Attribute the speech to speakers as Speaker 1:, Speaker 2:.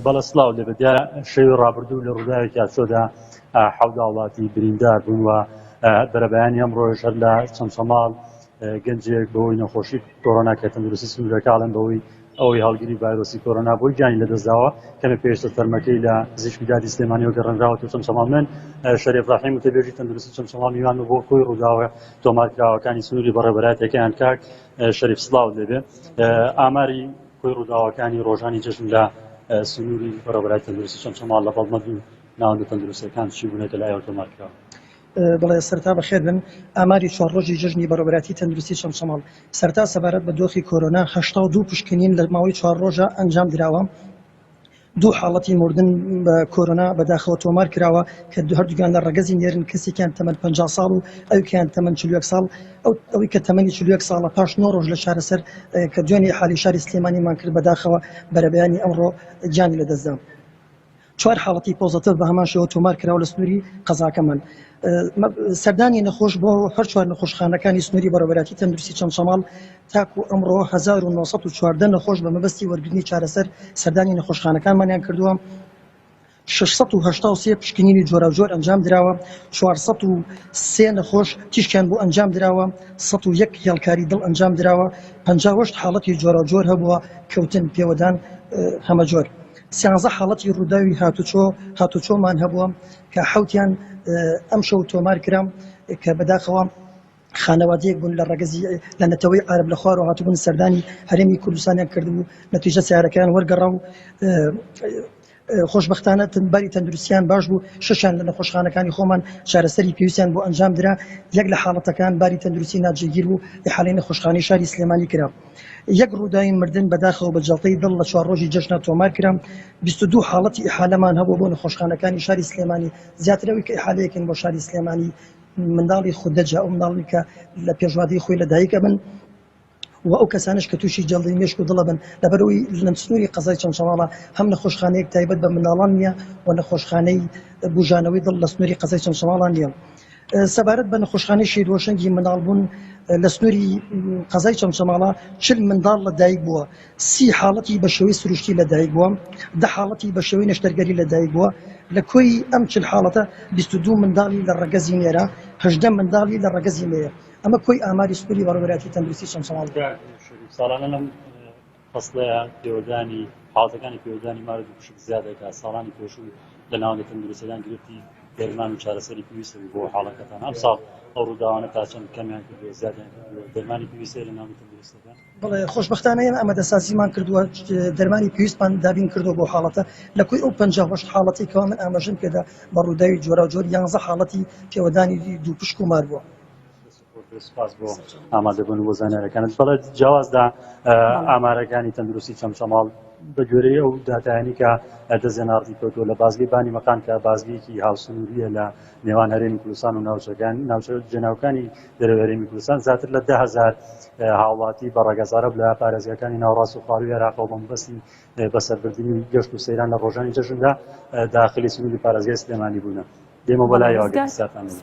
Speaker 1: بەڵە سلااو لێبێت دیارە شەوی ڕابردوو لە ڕووداوێکی یاچۆدا حەودا وڵاتی بریندار بوون و بەرەبیانی ئەم ڕۆژ هەر لە چەمچەماڵ گەنجێک بەوەی نەخۆشی کۆرۆنا کە تەندروستی سنوورەکاڵم بەوەی ئەوەی هەڵگیری ڤایرۆسی کۆرۆنا بۆی گیانی لەدەستداوە کەمە پێشتە تەرمەکەی لە پزیشکی دادی سلێمانیەوە گەڕنراوە و چەمچەماڵ من شەرێف ڕاحیم و تەبێژی تەندروستی چەمچەماڵ میوان و بۆ کۆی ڕووداوە تۆمارکراوەکانی سنووری بەڕێبەراتەکەیان کاک شەریف سلااو لێبێ ئاماری کۆی ڕووداوەکانی ڕۆژانی جەژن لە سنووری بەڕێوەبەرای تەندروستی چەمچەماڵ لە بەڵمە دوو ناوەندە تەندروستییەکان چی بوونەتە لایەوە تۆمارکراوە؟ بەڵێ،
Speaker 2: سەرەتا بەخێربێن. ئاماری چوار ڕۆژی جەژنی بەڕێوەبەرایەتی تەندروستی چەمچەماڵ سەرەتا سەبارەت بە دۆخی کۆرۆنا، هەشتا و دوو پشکنین لە ماوەی چوار ڕۆژە ئەنجامدراوە دوو حاڵەتی مردن بە کۆرۆنا بەداخەوە تۆمار کراوە کە هەردووکیان لە ڕەگەزی نێرن، کەسێکیان تەمەن پەنجا ساڵ و ئەویکەیان تەمەن چل و یەک ساڵ، ئەوی کە تەمەنی چل و یەک ساڵە پاش نۆ ڕۆژ لە چارەسەر کە دوێنێ ئیحالەی شاری سلێمانیمان کرد بەداخەوە بەرەبەیانی ئەمڕۆ گیانی لەدەستدا. چوار حاڵەتی پۆزەتڤ بە هەمان شێوە تۆمار کراوە لە سنووری قەزاکەمان. سەردانی نەخۆش بۆ هەر چوار نەخۆشخانەکانی سنووری بەڕێوەبەرایەتی تەندروستی چەمچەماڵ، تاکو ئەمڕۆ هەزار و نۆ سەد و چواردە نەخۆش بە مەبەستی وەرگرتنی چارەسەر سەردانی نەخۆشخانەکانمانیان کردووە، شەش سەد و هەشتا و سێ پشکنینی جۆراوجۆر ئەنجام دراوە، چوار سەد و سێ نەخۆش تیشکیان بۆ ئەنجام دراوە، سەد و یەک هێڵکاری دڵ ئەنجام دراوە، پەنجا و هەشت حاڵەتی جۆراوجۆر هەبووە، کەوتن، پێوەدان هەمەجۆر، سیانزە حاڵەتی رووداوی هاتوچۆ هاتوچۆمان هەبووە، کە حەوتیان ئەمشەو تۆمار کرا، کە بەداخەوە. خانەوادەیەک بوون لە ڕەگەزی لە نەتەوەی عارەب لە خوارەوە هاتبوون سەردانی هەرێمی کوردستانیان کردبوو نەتیجە سیارەکەیان وەرگەڕا و خۆشببختانە باری تەندروستیان باش بوو شەشان لە نەخۆشخانەکانی خۆمان چارەسەری پێویستیان بۆ ئەنجام درا یەک لە حاڵەتەکان باری تەندروستی ناجێگیر بوو حالی نەخۆشخانی شاری سلێمانی کرا یەک ڕووداوی مردن بەداخەوە بە جڵتەی دڵ لە چوار ڕۆژی جەژنا تۆمار کرام 22 حاڵەتی ئیحالەمان هەبوو بۆ نەخۆشخانەکانی شاری سلێمانی زیاترەوەی کە ئیحالەیەکن بۆ شاری سلێمانی منداڵی خوردەجا ئەو منداڵانەی کە لە پێشواتری خۆی لە دایک ئەبن و ئەو کەسانش کە تووشی جەڵدەی مێشک و دڵەبن لەبەرەوەی لەم سنووری قەزای چەمچەماڵە هەم نەخۆشخانەیەک تایبەت بە منداڵان نییە و نەخۆشخانەی بوژانەوەی دڵ لە سنووری قەزای چەمچەماڵان نییە. سەبارەت بە نەخۆشخانەی شید هۆشەنگی منداڵبوون لە سنووری قەزای چەمچەماڵە چل منداڵ لە دایک بووە سی حاڵەتی بە شێوەی سروشتی لەدایکبووە، دە حاڵەتی بە شێوەی نەشتەرگەری لەدایکبووە، لە کۆی ئەم چل حاڵەتە بیست و دوو منداڵی لە ڕەگەزی نێرە، هەژدە منداڵی لە ڕەگەزی مێیە. ئەمە کۆی ئاماری سکولی بەڕێوەبەرایەتی تەندروستی چەمچەماڵ دەکات. ساڵانە
Speaker 1: لەم فەسڵەیە پێوەدانی حاڵەتەکانی پێوەدانی مار و دووپشک زیاد دەکات، ساڵانی پێشوو لە ناوەندە تەندروستیەکان گرفتی دەرمان و چارەسەری پێویست هەبوو بۆ حاڵەکەتان، ئەمساڵ ئەو ڕووداوانە تا چەند کەمیان کردووە زیادیان کردووە، دەرمانی پێویست هەیە لە ناوەندە تەندروستەکان؟ بەڵێ خۆشبەختانە
Speaker 2: ئێمە ئامادەسازیمان کردووە دەرمانی پێویستمان دابین کردو بۆ حاڵەتە لە کوی ئەو پ حاڵەتی کەوا من ئاماژم پێدا بە ڕووداوی جۆرا جۆر یانزە حاڵەتی پێوەدانی دوو پشک و مار بووە سپاس
Speaker 1: بۆ ئامادەبوون بۆ زانارەکانت بەڵێ جیاوازدا ئامارەکانی تەندروستی چەمچەماڵ بە گوێرەی ئەو داتایانی کە دەزێناڕی کەوتووە لە بازگەی بانی مەقام کە بازگەیەکی هاوسنووریە لە نێوان هەرێمی کوردستان و ناوچەکان ناوچە جێناوکانی دەرەوەی هەرێمی کوردستان زیاتر لە دە هەزار هاوڵاتی بە ڕەگەز عەرەب لە پارێزگاکانی ناوەڕاست و خوارووی عێراقەوە بە مەبەستی بەسەربردنی گەشت و سەیران لە ڕۆژانی جەژندا داخلی سنووری پارێزگای سلێمانی بوونە دێمە بەلایەوە گەر پرسیارتان لەمە